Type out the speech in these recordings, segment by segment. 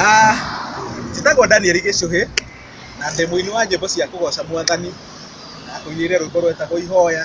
Ah, njĩtagwo Daniel Gĩcũhĩ na ndĩ mũini wa nyĩmbo cia kũgoca mwathani na ngũinĩire rwĩmbo rwetagwo ihoya.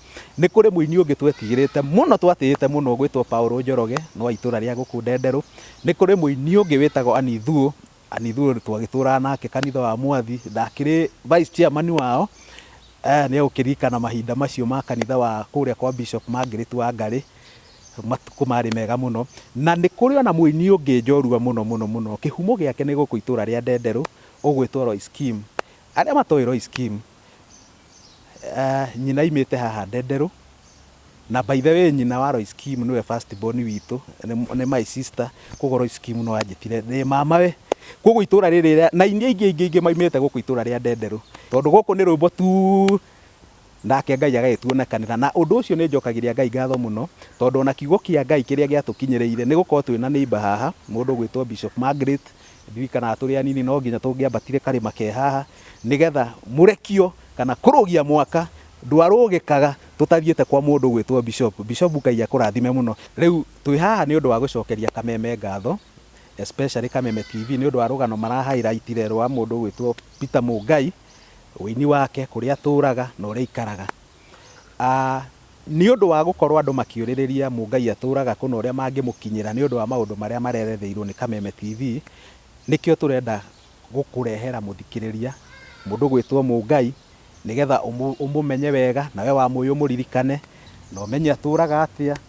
Nĩ kũrĩ mũini ũngĩ twetigĩrĩte mũno twatĩĩte mũno ũgwĩtwo Paul Njoroge nĩ wa itũũra rĩa gũkũ Ndenderũ. Nĩ kũrĩ mũini ũngĩ wĩtagwo Annie Thuo, Annie Thuo twagĩtũũraga nake kanitha wa Mwathi, ndakĩrĩ Vice Chairman wao, nĩ egũkĩririkana mahinda macio ma kanitha wa kũrĩa kwa Bishop Margaret Wangarĩ, matukũ marĩ mega mũno. Na nĩ kũrĩ ona mũini ũngĩ njorua mũno mũno mũno, kĩhumo gĩake nĩ gũkũ itũũra rĩa Ndenderũ ũgwĩtwo Royce Kim. Arĩa matoĩ Royce Kim, Aah nyina aimĩte haha Ndenderũ, na by the way nyina wa Lois Kim nĩwe first born witũ, nĩ my sister, koguo Lois Kim no anjĩtire ndĩ mama we. Koguo itũũra rĩrĩ na iria ingĩ ingĩ ingĩ maimĩte gũkũ itũũra rĩa Ndenderũ, tondũ gũkũ nĩ rwĩmbo tu, nake Ngai agagĩtuonekanĩra. Na ũndũ ũcio nĩ njokagĩria Ngai ngatho mũno, tondũ ona kiugo kĩa Ngai kĩrĩa gĩatũkinyĩrĩire, nĩ gũkorwo twĩna neighbour haha, mũndũ ũgwĩtwo Bishop Margaret, Ndirikanaga tũrĩ anini no nginya tũngĩambatire karĩma ke haha nĩgetha mũrekio kana kũrũgia mwaka ndwarũgĩkaga tũtathiĩte kwa mũndũ ũgwĩtwo Bishop. Bishop Ngai akũrathime mũno. Rĩu twĩ haha nĩ ũndũ wa gũcokeria Kameme ngatho especially Kameme TV nĩ ũndũ wa rũgano mara highlight re rwa mũndũ ũgwĩtwo Peter Mũngai, ũini wake, kũrĩa atũraga na ũrĩa aikaraga. Nĩ ũndũ wa gũkorũo andũ makĩũrĩrĩria Mũngai atũũraga kũ na ũrĩa mangĩmũkinyĩra nĩ ũndũ wa maũndũ marĩa mareretheirũo nĩ Kameme TV, nĩkĩo tũrenda gũkũrehera mũthikĩrĩria, mũndũ ũgwĩtwo Mũngai, nĩgetha ũmũmenye wega, nawe wa Mũi ũmũririkane, na ũmenye atũũraga atĩa.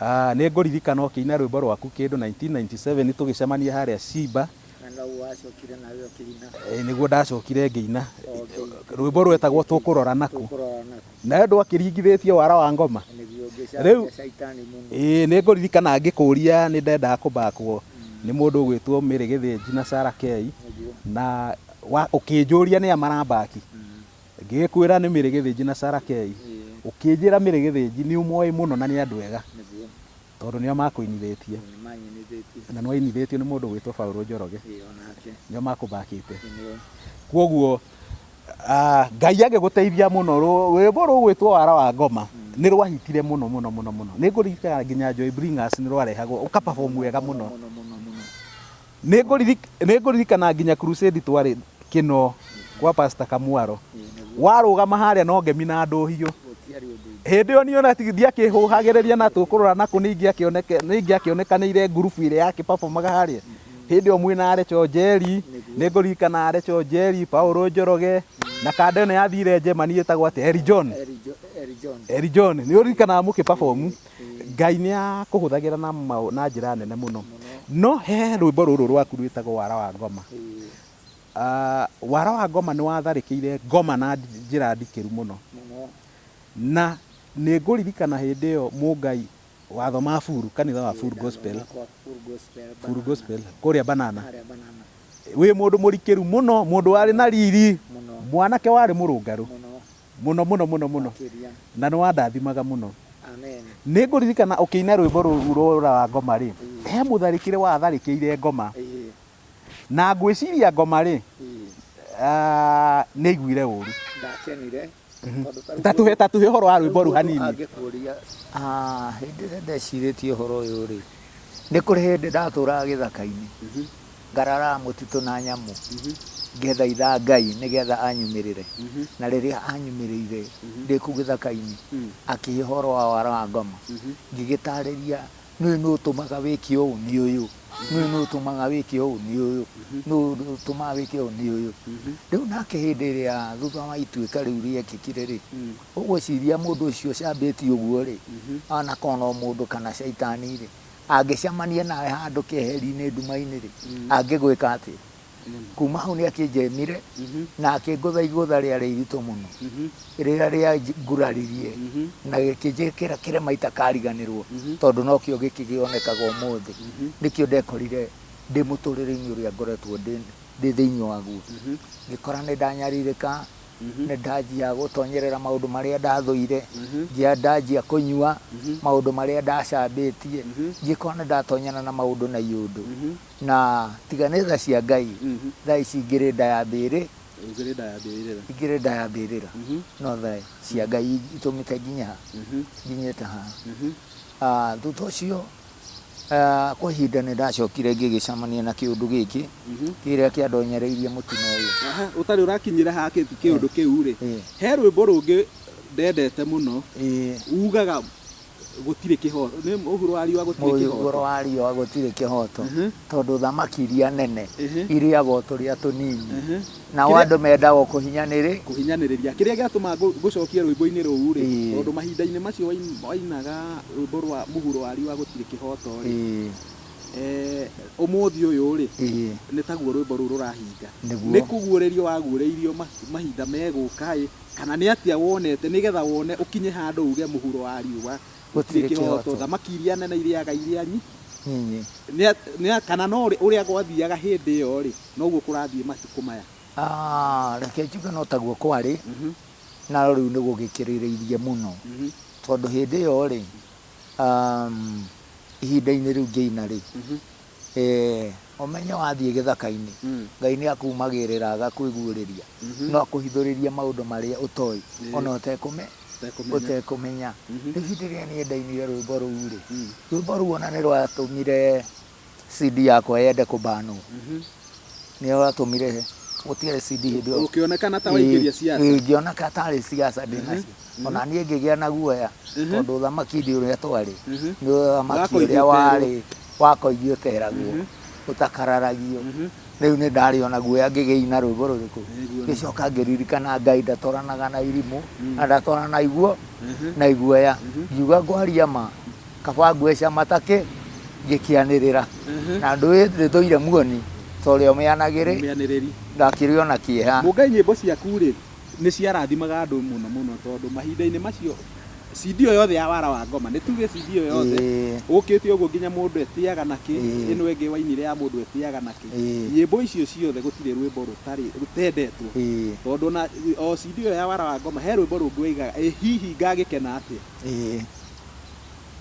Aah, nĩ ngũririkana ũkĩina rwĩmbo rwaku kĩndũ 1997 tũgĩcemania harĩa Shimba. Na noguo wacokire nawe ũkĩina. Ĩĩ, nĩguo ndacokire ngĩina. O ũkĩ. Rwĩmbo rwetagwo Tũkũrorana Kũ. Tũkũrorana Kũ. Nawe ndwakĩringithĩtie wara wa ngoma? Na nĩguo Rĩu. ũngĩcaragia caitani mũno. Ĩĩ, nĩ ngũririkana ngĩkũria nĩ ndendaga kũ backwo nĩ mũndũ ũgwĩtwo Mary Gĩthĩnji na Sarah Kei, Nĩguo. na wa, ũkĩnjũria nĩa mara back. Ngĩgĩkwĩra nĩ mĩrĩ gĩthĩnji na Sarakei, ũkĩnjĩra mĩrĩ gĩthĩnji nĩũmoĩ mũno na nĩ andũ ega, tondũ nĩo makũinithĩtie, na nĩwainithĩtio nĩ mũndũ ũgwĩtwo Paũlũ Njoroge, nĩo makũmakĩte. Kwoguo Ngai agĩgũteithia mũno, rwĩmbo rũgwĩtwo Wara wa Ngoma nĩrwahitire mũno mũno mũno mũno. Nĩngũririkana nginya Joy Bringers nĩrwarehagwo ũka perform wega mũno. Nĩngũririkana nginya crusade twarĩ kĩno kwa pastor Kamwaro. Warũgama harĩa no ngemi na ndũhiũ. Hĩndĩ ĩyo niĩ ona ndiakĩhũhagĩrĩria na tũkũrora na kũ nĩingĩakĩonekanĩire group ĩrĩa yakĩ performaga harĩa. Hĩndĩ ĩyo mwĩna Arecho Njeri, nĩngũririkana Arecho Njeri, Paul Njoroge na kanda ĩno yathire Germany ĩtagwo atĩa? Elly John. Elly John. Nĩũririkanaga mũkĩ perform? Ngai nĩ akũhũthagĩra na, na njĩra nene mũno. No he rwĩmbo rũrũ rwaku rwĩtagwo wara wa ngoma. Uh, wara wa ngoma nĩ watharĩkĩire ngoma na njĩra ndikĩru mũno. Na nĩ ngũririkana hĩndĩ ĩyo mũngai watho ma buru kanitha wa full gospel full gospel kũrĩa banana wĩ mũndũ mũrikĩru mũno mũndũ warĩ na riri mwanake warĩ mũrũngarũ mũno mũno mũno mũno Makĩria. na nĩ wandathimaga mũno Amen. nĩ ngũririkana ũkĩina rwĩmbo rũu rũra wa ngoma rĩ he mũtharĩkĩre watharĩkĩire ngoma Ĩĩ. na ngwĩciria ngoma rĩ Ĩĩ. ah, nĩ aiguire ũru Ndakenire. Tondũ ta rĩu ta tũhe ta tũhe ũhoro wa rwĩmbo rũu mũndũ hanini angĩkũria, "Ah, hĩndĩ ĩrĩa ndecirĩtie ũhoro ũyũ rĩ Nĩ kũrĩ hĩndĩ ndatũũraga gĩthaka-inĩ, ngararaga mũtitũ na nyamũ, ngĩthaitha Ngai nĩgetha anyumĩrĩre. Na rĩrĩa anyumĩrĩire ndĩ kũu gĩthaka-inĩ, akĩhe ũhoro wa wara wa ngoma, ngĩgĩtaarĩria, Nĩũĩ nũũ ũtũmaga wĩke ũũ? Nĩ ũyũ. Nĩũĩ nũũ ũtũmaga wĩke ũũ? Nĩ ũyũ. Nũũ ũtũmaga wĩke ũũ? Nĩ ũyũ. Rĩu nake hĩndĩ ĩrĩa thutha wa ituĩka rĩu rĩekĩkire-rĩ, Ũgwĩciria mũndũ ũcio ũcambĩtio ũguo-rĩ, anakorwo no mũndũ kana Shaitani-rĩ, angĩcemania nawe handũ keheri-inĩ nduma-inĩ-rĩ, angĩgwĩka atĩa? Kuuma hau nĩakĩnjemire na akĩngũtha igũtha rĩarĩ iritũ mũno, rĩrĩa rĩanguraririe na gĩkĩnjĩkĩra kĩrema itakariganĩrũo, tondũ nokĩo gĩkĩgĩonekaga ũmũthĩ. Nĩkĩo ndekorire ndĩ mũtũrĩre-inĩ ũrĩa ngoretwo ndĩ thĩinĩ waguo, ngĩkora nĩndanyarirĩka nĩ ndanjia gũtonyerera maũndũ marĩa ndathũire, njia ndanjia kũnyua maũndũ marĩa ndacambĩtie, njĩkoo nĩ ndatonyana na maũndũ na iũndũ. Na tiga nĩ tha cia Ngai, tha ici ngĩrĩ nda ya mbĩrĩ, ngĩrĩ nda ya mbĩrĩra, no tha cia Ngai itũmĩte nginye ha? nginyĩte haha. Thutha ũcio... Kwa ihinda nĩ ndacokire ngĩgĩcamania na kĩũndũ gĩkĩ mhm. kĩrĩa kĩandonyereirie mũtino ũyũ. Ũtarĩ ũrakinyĩra ha kĩũndũ kĩu rĩ, he rwĩmbo rũngĩ ndendete mũno ugaga gũtirĩ kĩhoto nĩ mũhuro wa riũa gũtirĩ kĩhoto mũhuro wa riũa gũtirĩ kĩhoto tondũ thamaki iria nene irĩaga o tũrĩa tũnini Nao Kĩrĩa- andũ mendaga o kũhinyanĩrĩ. kũhinyanĩrĩria kĩrĩa gĩatũma ngũ- ngũcokie rwĩmbo-inĩ rũu rĩ Ĩĩ. tondũ mahinda-inĩ macio wain- wainaga rwĩmbo rwa mũhuro wa riũa gũtirĩ kĩhoto rĩ Ĩĩ, eh, ũmũthĩ ũyũ rĩ ĩĩ, nĩ taguo rwĩmbo rũu rũrahinga Nĩguo. nĩ kũguũrĩrio waguũrĩirio ma- mahinda megũka ĩ kana nĩ atĩa wonete nĩgetha wone ũkinye handũ uge mũhuro wa riũa gũtirĩ Gũtirĩ kĩhoto kĩhoto. thamaki iria nene irĩaga iria nyi nyinyi. nĩ a- nĩ a- kana no rĩ- ũrĩa gwathiaga hĩndĩ ĩyo rĩ Noguo kũrathiĩ matukũ maya. Aah reke njuge no taguo kwarĩ, na rĩu nĩ gũgĩkĩrĩrĩirie mũno. Tondũ hĩndĩ ĩyo-rĩ, ihinda-inĩ rĩu ngĩina rĩ, ũmenye wathiĩ gĩthaka-inĩ, Ngai nĩ akumagĩrĩra agakwĩguũrĩria. No akũhithũrĩrie maũndũ marĩa ũtoĩ ona ũtekũmenya. Rĩu hĩndĩ ĩrĩa niĩ ndainire rwĩmbo rũu-rĩ, rwĩmbo rũu ona nĩ rwatũmire... CD yakwa yende kũbanwo nĩyo yatũmire gũtiarĩ CD hĩndĩ ĩyo ũkĩonekana ta waingĩria siasa Ĩĩ, ngĩona ka tarĩ siasa ndĩ nacio ona niĩ ngĩgĩa na guoya tondũ ũthamaki ndi ũrĩa twarĩ nĩ ũthamaki Wakoigio ũrĩa warĩ wakoigio ũteragwo ũtakararagio rĩu nĩ ndarĩ ona guoya ngĩgĩina rwĩmbo rũrĩkũ Nĩguo. ngĩcoka ngĩririkana ngai ndatwaranaga na irimũ na ndatwarana na iguo na iguoya ngiuga ngwaria ma Kaba ngweca matakĩ ngĩkĩanĩrĩra Mhm. na ndũĩ ndĩtũire muoni torĩa ũmĩanagĩrĩ Mũmĩanĩrĩri. ndakĩrĩ ona kĩeha Mũngai nyĩmbo ciaku rĩ nĩ ciarathimaga andũ mũno mũno tondũ mahinda-inĩ macio CD ĩyo yothe ya wara wa ngoma nĩ tuge CD ĩyo yothe Ĩĩ. ũkĩte ũguo nginya mũndũ etĩaga na kĩ Ĩĩ. ĩno ĩngĩ wainire ya mũndũ etĩaga na kĩ Ĩĩ. nyĩmbo icio ciothe gũtirĩ rwĩmbo rũtarĩ rũtendetwo Ĩĩ. tondũ ona o CD ĩyo ya wara wa ngoma he rwĩmbo rũngĩ waigaga ĩ hihi ngagĩkena atĩa Ĩĩ.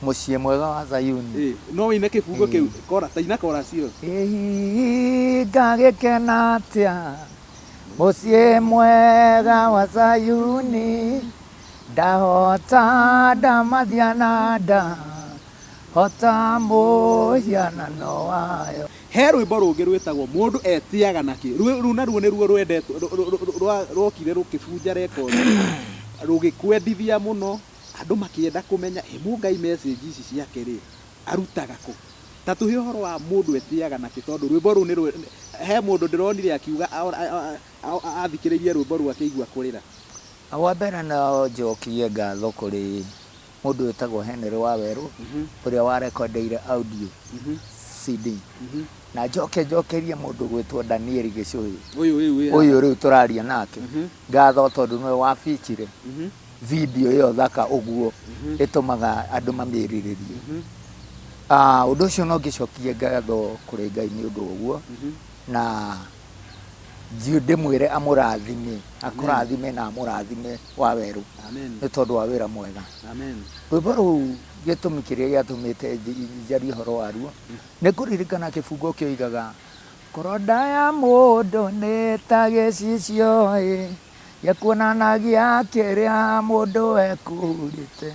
Mũciĩ mwega wa Zayuni. Ĩ, no ũine kĩbungo Ĩ. kĩu. Kora, ta ina korasi ĩyo. Ĩ, ngagĩkena atĩa mũciĩ mwega wa Zayuni ndahota ndamathia na nda hota mũhianano wayo He rwĩmbo rũngĩ rwĩtagwo Mũndũ Etĩaga na Kĩ. Rwĩ- Rũu naruo nĩruo rwendetwo, rũ- rũ- rũ- rwa- rwokire rũkĩbunja rekondi, rũgĩkwendithia mũno. Andũ makĩenda kũmenya ĩ Mũngai message ici ciake rĩ arutaga kũ? Ta tũhe ũhoro wa mũndũ etĩaga na kĩ tondũ rwĩmbo rũu nĩ rwĩ he mũndũ ndĩronire akiuga athikĩrĩirie rwĩmbo rũu akĩigua kũrĩra. Wa mbere no njokie ngatho kũrĩ mũndũ wĩtagwo Henry Wawerũ ũrĩa wa rekondeire audio CD. Na njoke njokerie mũndũ ũgwĩtwo Daniel Gĩchũhĩ ũyũ rĩu tũraria nake ngatho tondũ nĩwe wa feature video ĩyo thaka ũguo mhm. ĩtũmaga andũ mamĩrirĩrie mhm. ah, ũndũ ũcio no ngĩcokie ngatho kũrĩ ngai nĩ ũndũ ũguo mhm. na thiĩ ndĩmwĩre amũrathime akũrathime na amũrathime wa werũ nĩ tondũ wa wĩra mwega rwĩmbo rũu gĩtũmi kĩrĩa gĩatũmĩte njarie ũhoro waruo mm. nĩ kũririkana kĩbungo kĩoigaga Korodaya mudo neta gesicio e. Ye kuonanagia kĩrĩa mũndũ ekũrĩte,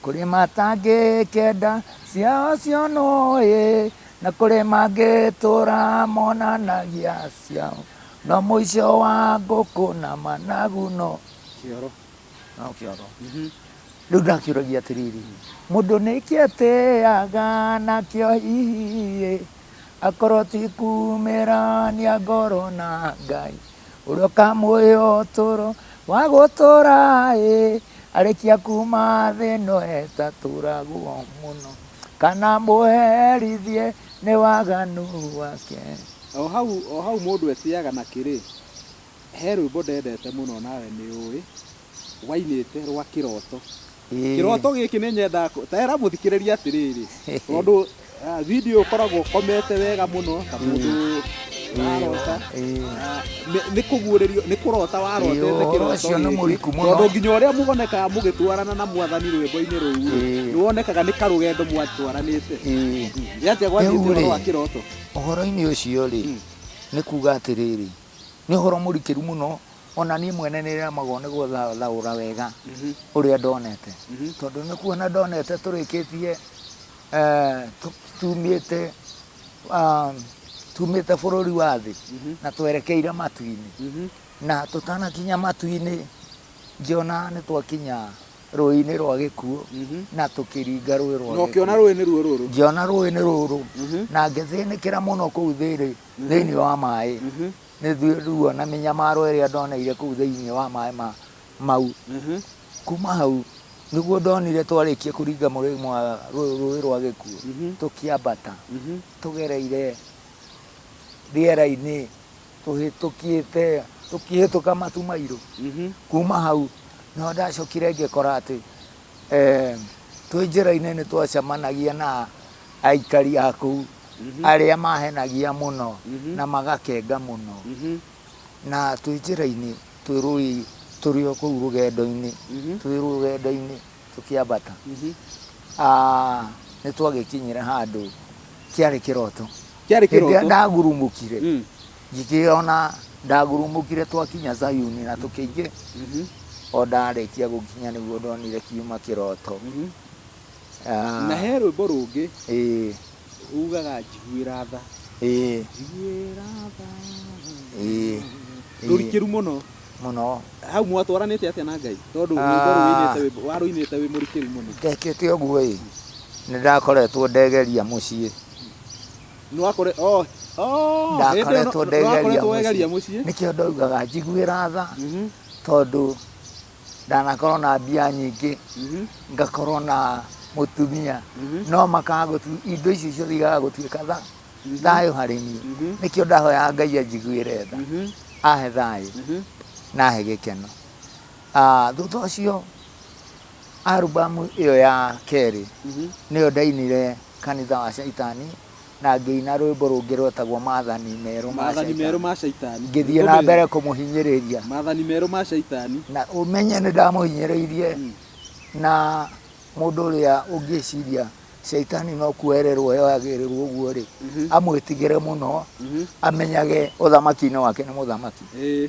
kũrĩ matangĩkenda ciao cionwo-ĩ, na kũrĩ mangĩtũra monanagia ciao, no mũico wa ngũkũ na managu no kĩoro, no kĩoro. Rĩu ndakĩũragia atĩrĩrĩ, mũndũ nĩkĩ etĩaga nakĩo hihi-ĩ, Akorwo ti kumĩrania ngoro na Ngai ũrĩa ũkamũhe ũtũũro wa gũtũũra ĩ arĩkia kuma thĩ ĩno etatũũragwo mũno kana mũherithie nĩ waganu wake. O hau o hau mũndũ etĩaga na kĩrĩ, he rwĩmbo ndendete mũno nawe nĩũĩ, rwainĩte rwa kĩroto Kĩroto gĩkĩ nĩ nyendaga kũ- ta era mũthikĩrĩria atĩrĩrĩ tondũ ah, video ũkoragwo ũkomete wega mũno ta mũndũ warota Ah, nĩ- nĩ kũguũrĩrio nĩ kũrota warotete Ĩĩ, ũhoro kĩroto ũcio nĩ gĩkĩ. mũriku mũno. tondũ nginya ũrĩa mũgonekaga mũgĩtwarana na mwathani rwĩmbo-inĩ rũu Ĩĩ. nĩ wonekaga nĩ karũgendo mwatwaranĩte Ĩĩ. yatĩa gwathiĩte Rĩu-rĩ, ũhoro wa kĩroto ũhoro-inĩ ũcio rĩ nĩ kuga atĩrĩrĩ Nĩ ũhoro mũrikĩru mũno, ona niĩ mwene nĩ remagwo nĩ gũthaũra wega ũrĩa ndonete. Tondũ nĩ kuona ndonete tũrĩkĩtie eh, tu- tumĩte ah, tumĩte bũrũri wa thĩ na twerekeire matu-inĩ. Na tũtanakinya matu-inĩ ngĩona nĩ twakinya rũĩ-inĩ rwa gĩkuũ na tũkĩringa rũĩ rwa na gĩkuũ. ũkĩona rũĩ nĩ ruo rũrũ Ngĩona rũĩ nĩ rũrũ na ngĩthĩnĩkĩra mũno kũu thĩrĩ thĩinĩ wa maĩ mhm. nĩ ruo na mĩnyamaro ĩrĩa ndoneire kũu thĩinĩ wa maĩ ma mau mhm. kuma hau nĩguo ndonire twarĩkia kũringa rũĩ rwa gĩkuo mhm. tũkĩambata tũgereire rĩera-inĩ tũhĩtũkĩte tũkĩhĩtũka matu mairũ kuma hau no ndacokire ngĩkora atĩ Eh, twĩ njĩra-inĩ nĩ twacemanagia na aikari a kũu arĩa mahenagia mũno na magakenga mũno na twĩ njĩra-inĩ twĩ rũĩ tũrĩ o kũu rũgendo-inĩ twĩ rũgendo-inĩ tũkĩambata Ah, nĩ twagĩkinyire handũ kĩarĩ kĩroto Kĩarĩ Hĩndĩ ĩrĩa kĩroto? ndagurumũkire Mm. Ngĩkĩona ndagurumũkire twakinya Zayuni na tũkĩingĩ Mhm. o ndarĩkia gũkinya nĩguo ndonire kiuma kĩroto Mhm. Ah, na he rwĩmbo rũngĩ ĩĩ, ugaga njiguĩra tha ĩĩ, njiguĩra tha ĩĩ, ĩĩ, rũrikĩru mũno mũno hau mwatwaranĩte atĩa na ngai tondũ Ah. rwĩmbo rũinĩte wĩ- warũinĩte wĩ mũrikĩru mũno ndekĩte ũguo ĩ nĩ ndakoretwo ndegeria mũciĩ Nĩwakore, oh, oh, hĩndĩ ĩyo Ndakoretwo nĩwakoretwo ndegeria wegeria mũciĩ. mũciĩ. Nĩkĩo ndaugaga njiguĩra tha, Mhm, tondũ ndanakorwo na mbia nyingĩ, mhm, ngakorwo na mũtumia, Mhm. no makaga gũtu, indo icio ciothe igaga gũtuĩka tha, thayũ harĩ niĩ. Mhm. Nĩkĩo ndahoyaga Ngai anjiguĩre tha, mhm, ahe thayũ, mhm. na ahe gĩkeno. Ah, Thutha ũcio, arubamu ĩyo ya kerĩ, Mhm. nĩyo ndainire kanitha wa Caitani, na ngĩina rwĩmbo rũngĩ rwetagwo Maathani Merũ ma Maathani Merũ Caitani. ma Caitani. Ngĩthiĩ na Rũmĩrĩra. mbere kũmũhinyĩrĩria, Maathani Merũ ma Caitani. na ũmenye nĩ ndamũhinyĩrĩirie, Mm. na mũndũ ũrĩa ũngĩciria Caitani no kuoererwo yoyagĩrĩrwo ũguo-rĩ, Mhm. amwĩtigĩre mũno, Mhm. amenyage ũthamaki-inĩ wake nĩ mũthamaki. Ĩĩ.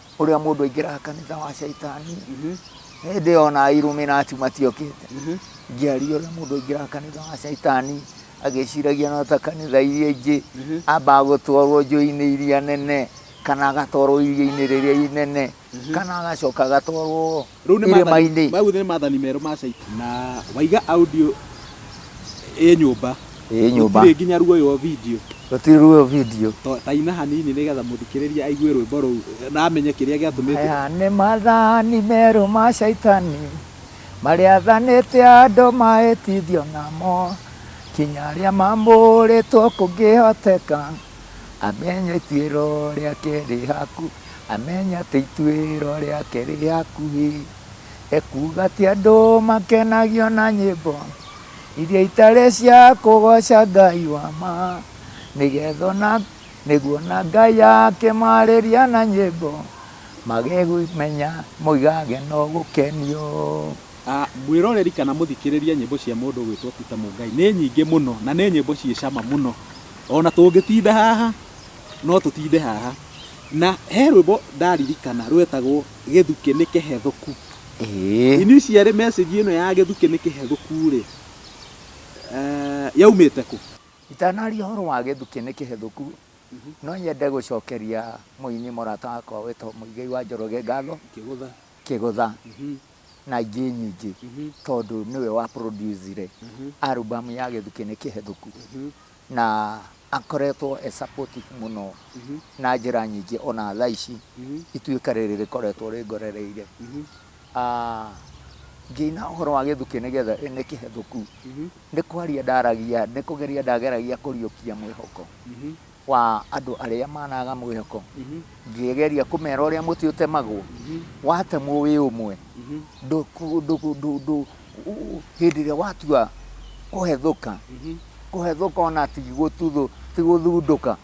ũrĩa mũndũ aingĩraga kanitha wa caitani mhm. hĩndĩ ĩyo na iruminati matiokĩte mhm. ngĩaria ũrĩa mũndũ aingĩraga kanitha wa caitani agĩciragia no ta kanitha iria ingĩ mhm. ambaga gũtwarwo njũĩ-inĩ iria nene kana agatwarwo iria-inĩ rĩrĩa inene kana agacoka agatwarwo Rĩu nĩ maathani- irĩma-inĩ mau nĩ maathani merũ ma Shaitani. Na waiga audio ĩ nyũmba. ĩ nyũmba Gũtirĩ nginya ruoywo video. gũtirĩ ruo video To- Ta ina hanini nĩgetha mũthikĩrĩria aigue rwĩmbo rũu na amenye kĩrĩa gĩatũmĩte. Aya nĩ mathani merũ ma caitani marĩa athanĩte andũ mahĩtithio namo kinya arĩa mamũrĩtwo kũngĩhoteka Amenya ituĩro rĩake rĩ hakuhĩ. Amenya atĩ ituĩro rĩake rĩ hakuhĩ. Ekuuga atĩ andũ makenagio na nyĩmbo iria itarĩ cia kũgoca Ngai wa ma, nĩgetha ona nĩguo na Ngai akĩmarĩria na nyĩmbo, magĩmenya mũigage na gũkenio. A Mwĩroreri kana mũthikĩrĩria nyĩmbo cia mũndũ ũgwĩtwo Peter Mũngai nĩ nyingĩ mũno na nĩ nyĩmbo ciĩ cama mũno. O na tũngĩtinda haha no tũtinde haha. Na he rwĩmbo ndaririkana rwetagwo Gĩthukĩ nĩ kĩhethũku. Initially message ĩno ya Gĩthukĩ nĩ kĩhethũku rĩ, yaumĩte kũ? Itanaria ũhoro wa Gĩthukĩ nĩ kĩhethũku, no nyende gũcokeria mũini mũrata wakwa wĩtagwo Mũigai wa Njoroge ngatho, Kĩgũtha, na ingĩ nyingĩ tondũ nĩwe wa producire album ya gĩthukĩ nĩ kĩhethũku na akoretwo e supportive mũno na njĩra nyingĩ ona thaa ici ituĩka rĩrĩ rĩkoretwo rĩngorereire Ah, ngĩina ũhoro wa gĩthukĩ nĩgetha nĩ kĩhethũku nĩ kwaria ndaragia nĩ kũgeria ndageragia kũriũkia mwĩhoko wa andũ arĩa managa mwĩhoko, ngĩgeria kũmera ũrĩa mũtĩ ũtemagwo, watemwo wĩ ũmwe, hĩndĩ ĩrĩa watua kũhethũka, kũhethũka ona ti gũthundũka,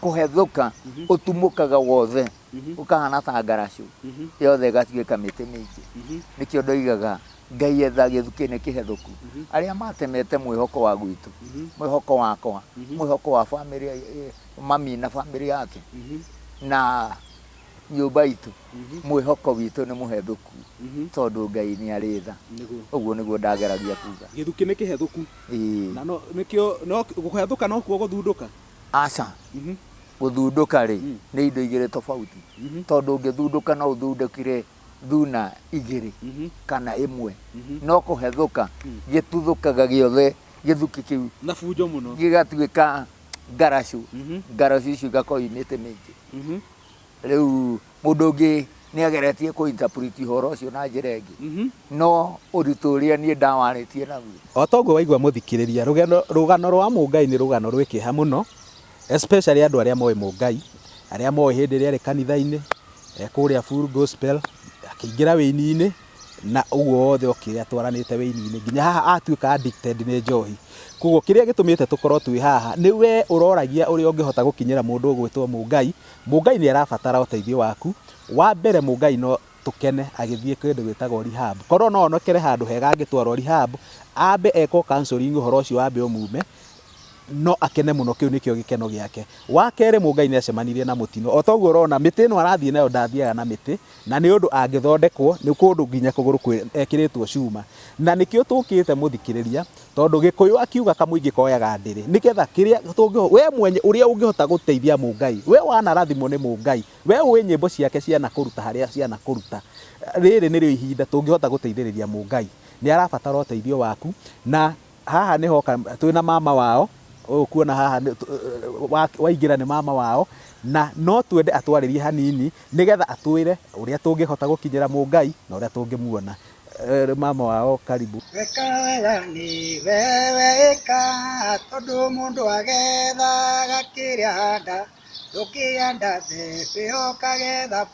kũhethũka ũtumũkaga wothe. Mhm. ũkahana ta ngaracũ Mhm. yothe ĩgatuĩka mĩtĩ mĩingĩ Mhm. nĩkĩo ndoigaga ngai etha gĩthukĩ-inĩ kĩhethũku Mhm. arĩa matemete mwĩhoko wa gwitũ Mhm. mwĩhoko wakwa Mhm. mwĩhoko wa bamĩrĩ eh, mami na bamĩrĩ yake Mhm. na nyũmba itũ Mhm. mwĩhoko witũ nĩ mũhethũku Mhm. tondũ ngai nĩ arĩ tha Nĩguo. ũguo nĩguo ndageragia kuga gĩthukĩ nĩ kĩhethũku Ĩĩ. na no- nĩkĩo no- kũhethũka nokuo gũthundũka Aca. Gũthundũka-rĩ, nĩ indo igĩrĩ tofauti. Tondũ ũngĩthundũka no ũthundũkire thuna igĩrĩ kana ĩmwe. No kũhethũka, gĩtuthũkaga gĩothe gĩthuki kĩu gĩgatuĩka ngaracũ. Ngaracũ icio igakorwo imĩte mĩingĩ. Rĩu mũndũ ũngĩ nĩ ageretie kũ interpret ũhoro ũcio na njĩra ĩngĩ, mhm. no ũritũ ũrĩa niĩ ndawarĩtie naguo. O ta ũguo waigua mũthikĩrĩria, rũgendo, rũgano rwa Mũngai nĩ rũgano rwĩ kĩeha mũno, especially andũ arĩa moĩ Mũngai, arĩa moĩ hĩndĩ ĩrĩa arĩ kanitha-inĩ, e kũrĩa full gospel, akĩingĩra wĩini-inĩ, na ũguo wothe okĩrĩa twaranĩte wĩini-inĩ nginya haha atuĩka addicted nĩ njohi koguo kĩrĩa gĩtũmĩte tũkorwo twĩ haha nĩ we ũroragia ũrĩa ũngĩhota gũkinyĩra mũndũ ũgwĩtwo mũngai Mũngai nĩ arabatara ũteithio waku. Wa mbere Mũngai no tũkene agĩthiĩ kĩndũ gĩtagwo rehab. Korwo no onekere handũ hega angĩtwarwo rehab, ambe ekwo counselling ũhoro ũcio wambe ũmume, no akene mũno kĩu nĩkĩo gĩkeno gĩake. Wa kerĩ Mũngai nĩ acemanirie na mũtino. O ta ũguo ũrona mĩtĩ ĩno arathiĩ nayo ndathiaga na mĩtĩ, Na nĩ ũndũ angĩthondekwo nĩ kũndũ nginya kũgũrũ kwĩ ekĩrĩtwo cuma. Na nĩkĩo tũkĩte mũthikĩrĩria tondũ gĩkũyũ akiuga kamũingĩ koyaga ndĩrĩ nĩ getha kĩrĩa tũngĩhota we mwenye ũrĩa ũngĩhota gũteithia mũngai we wanarathimwo nĩ mũngai we ũĩ nyĩmbo ciake cia nakũruta harĩa cia nakũruta rĩrĩ nĩrĩo ihinda tũngĩhota gũteithĩrĩria mũngai nĩarabatara ũteithio waku na Haha nĩ hoka twĩ na mama wao, ũyũ ũkuona haha waingĩra nĩ mama wao, na no twende atwarĩrie hanini nĩ getha atwĩre ũrĩa tũngĩhota gũkinyĩra Mũngai na ũrĩa tũngĩmuona. Mama wao karibu. Weka wega nĩ wewe ĩka, tondũ mũndũ agethaga kĩrĩa ahanda, ndũngĩhanda mbembe ũkagetha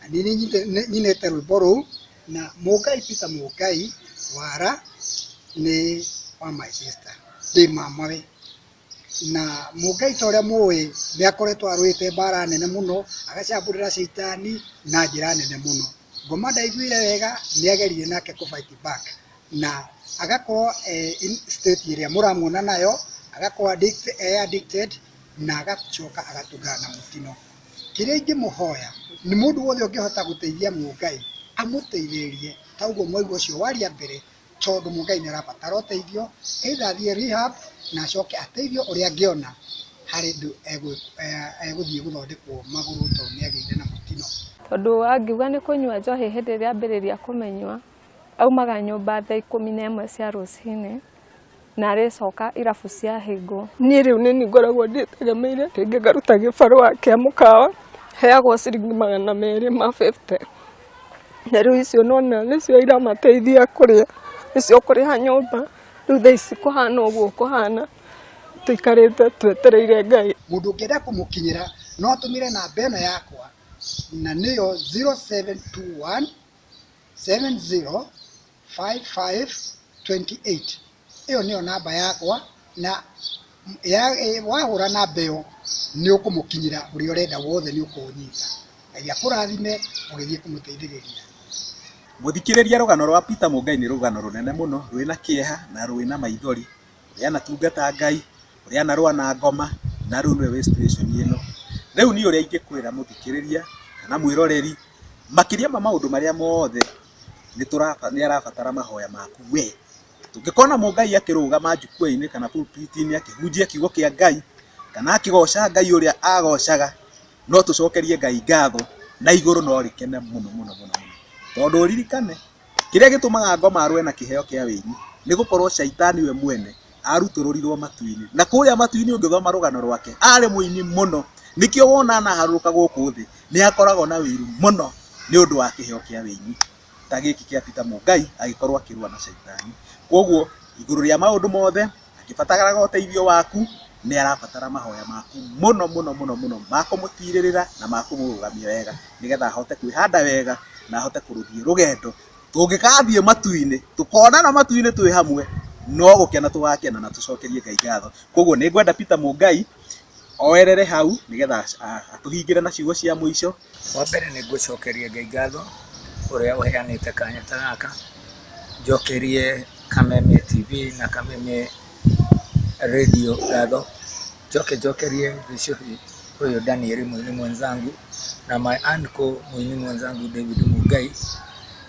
Na nĩ nyinĩte rwĩmbo rũu na Mũngai Peter Mũngai wara nĩ wa my sister ndĩ mamawe. Na Mũngai ta ũrĩa mũĩ nĩ akoretwo arũĩte mbara nene mũno agacambũrĩra caitani na njĩra nene mũno. Ngoma ndaiguire wega nĩ agerire nake kũ fight back na agakorwo e in state ĩrĩa mũramuona nayo agakorwo e addicted na agacoka agatũngana na mũtino. Kĩrĩa ingĩmũhoya nĩ mũndũ wothe ũngĩhota gũteithia Mũngai amũteithĩrĩrie ta ũguo mwaigua ũcio waria mbere tondũ Mũngai nĩarabatara ũteithio either athiĩ rehab na acoke ateithio ũrĩa angĩona harĩ ũndũ egũthiĩ gũthondekwo magũrũ tondũ nĩagĩire na mũtino. Tondũ angiuga nĩ kũnyua njohi hĩndĩ ĩrĩa ambĩrĩria kũmĩnyua Aumaga nyũmba thaa ikũmi na ĩmwe cia rũcinĩ na arĩcoka irabu ciahĩngwo. Niĩ rĩu nĩ niĩ ngoragwo ndĩtegemeire, rĩngĩ ngaruta gĩbarũa kĩa mũkawa, heagwo ciringi magana merĩ ma bĩbute, na rĩu icio nĩwona nĩcio iramateithia kũrĩa, nĩcio kũrĩha nyũmba, rĩu thaa ici kũhana ũguo kũhana, tũikarĩte twetereire Ngai. Mũndũ ũngĩenda kũmũkinyĩra no atũmĩre namba ĩno yakwa na nĩyo 0721 705528 ĩyo nĩyo namba yakwa na ya, e, wahũra namba ĩyo nĩ ũkũmũkinyĩra ũrĩa ũrenda wothe nĩ ũkũũnyita ngai akũrathime ũgĩthiĩ kũmũteithĩrĩria Mũthikĩrĩria rũgano rwa Peter Mũngai nĩ rũgano rũnene mũno, rwĩna kĩeha na rwĩna maithori. ũrĩa anatungata Ngai, ũrĩa anarũa na ngoma, na rĩu nĩwe wĩ situation ĩno. Rĩu niĩ ũrĩa ingĩkwĩra mũthikĩrĩria kana mwĩroreri, makĩria ma maũndũ marĩa mothe, nĩ tũraba nĩ arabatara mahoya maku we. Tũngĩkona Mũngai akĩrũgama njukua-inĩ kana pulpit -inĩ akĩhunjia kiugo kĩa Ngai, kana akĩgoca Ngai ũrĩa agocaga, no tũcokerie Ngai ngatho, na igũrũ no rĩkene mũno mũno mũno mũno. Tondũ ũririkane, Kĩrĩa gĩtũmaga ngoma arũe na kĩheo kĩa wĩini nĩ gũkorwo caitani we mwene arutũrũrirwo matu-inĩ. Na kũrĩa matu-inĩ ũngĩthoma rũgano rwake arĩ mũini mũno. Nĩkĩo wona anaharũrũka gũkũ thĩ nĩ akoragwo na wĩiru mũno nĩ ũndũ wa kĩheo kĩa wĩini ta gĩkĩ kĩa Peter Mũngai agĩkorwo akĩrũa na caitani. Kwoguo igũrũ rĩa maũndũ mothe... Akĩbataraga ũteithio waku, nĩ arabatara mahoya maku mũno mũno mũno mũno ma kũmũtirĩrĩra na ma kũmũrũgamia wega nĩgetha ahote kwĩhanda wega na ahote kũrũthiĩ rũgendo. Tũngĩgathiĩ matu-inĩ, tũkonana matu-inĩ twĩ hamwe, no gũkena tũgakena na tũcokerie Ngai ngatho. Kũguo nĩ ngwenda Peter Mũngai oerere hau nĩgetha atũhingĩre na ciugo cia mũico. Wa mbere nĩ ngũcokeria Ngai ngatho ũrĩa ũheanĩte kanya ta gaka, njokerie Kameme TV na Kameme Radio ngatho, njoke njokerie Gĩchũhĩ ũyũ Daniel mũini mwenzangu na my uncle mũini mwenzangu David Mungai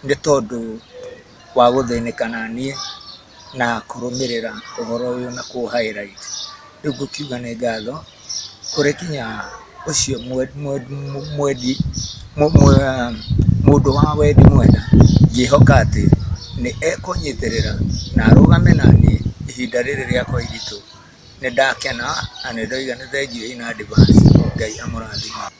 nĩ tondũ wa gũthĩnĩka na niĩ. na kũrũmĩrĩra ũhoro ũyũ na kũ highlight. Rĩu ngũkiuga nĩ ngatho kũrĩ nginya ũcio mwendi, mũndũ wa wendi mwega, ngĩhoka atĩ nĩ ekũnyitĩrĩra na arũgame na niĩ ihinda rĩrĩ rĩakwa iritũ. Nĩ ndakena na nĩ ndoiga nĩ thengiũi na advance. Ngai amũrathime.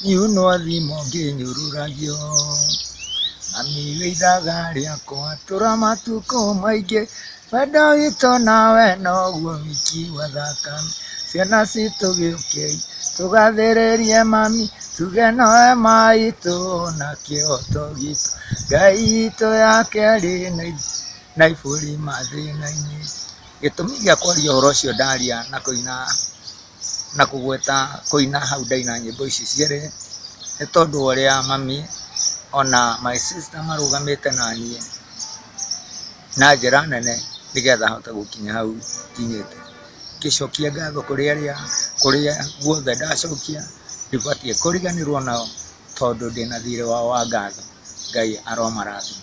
Ngiunwo thimo ngĩnyũrũragio, mami wĩ ithaga rĩakwa, tũra matukũ maingĩ, wendo witũ nawe noguo wiki wathaka, ciana citũ gĩũkei tũgathĩrĩrie mami, tuge nowe maitũ na kĩhoto gitũ, Ngai itũ ya kerĩ na ibũri mathĩna-inĩ. Gĩtũmi gĩa kwaria ũhoro ũcio ndaria na kũina. na kũgweta kũina hau ndaina nyĩmbo ici cierĩ, nĩ tondũ wa ũrĩa mami ona my sister marũgamĩte na niĩ na njĩra nene nĩgetha hote gũkinya hau nginyĩte. Ngĩcokia ngatho kũrĩ arĩa, kũrĩa guothe ndacokia, ndibatiĩ kũriganĩrwo nao tondũ ndĩna thiirĩ wao wa ngatho. Ngai aromarathima.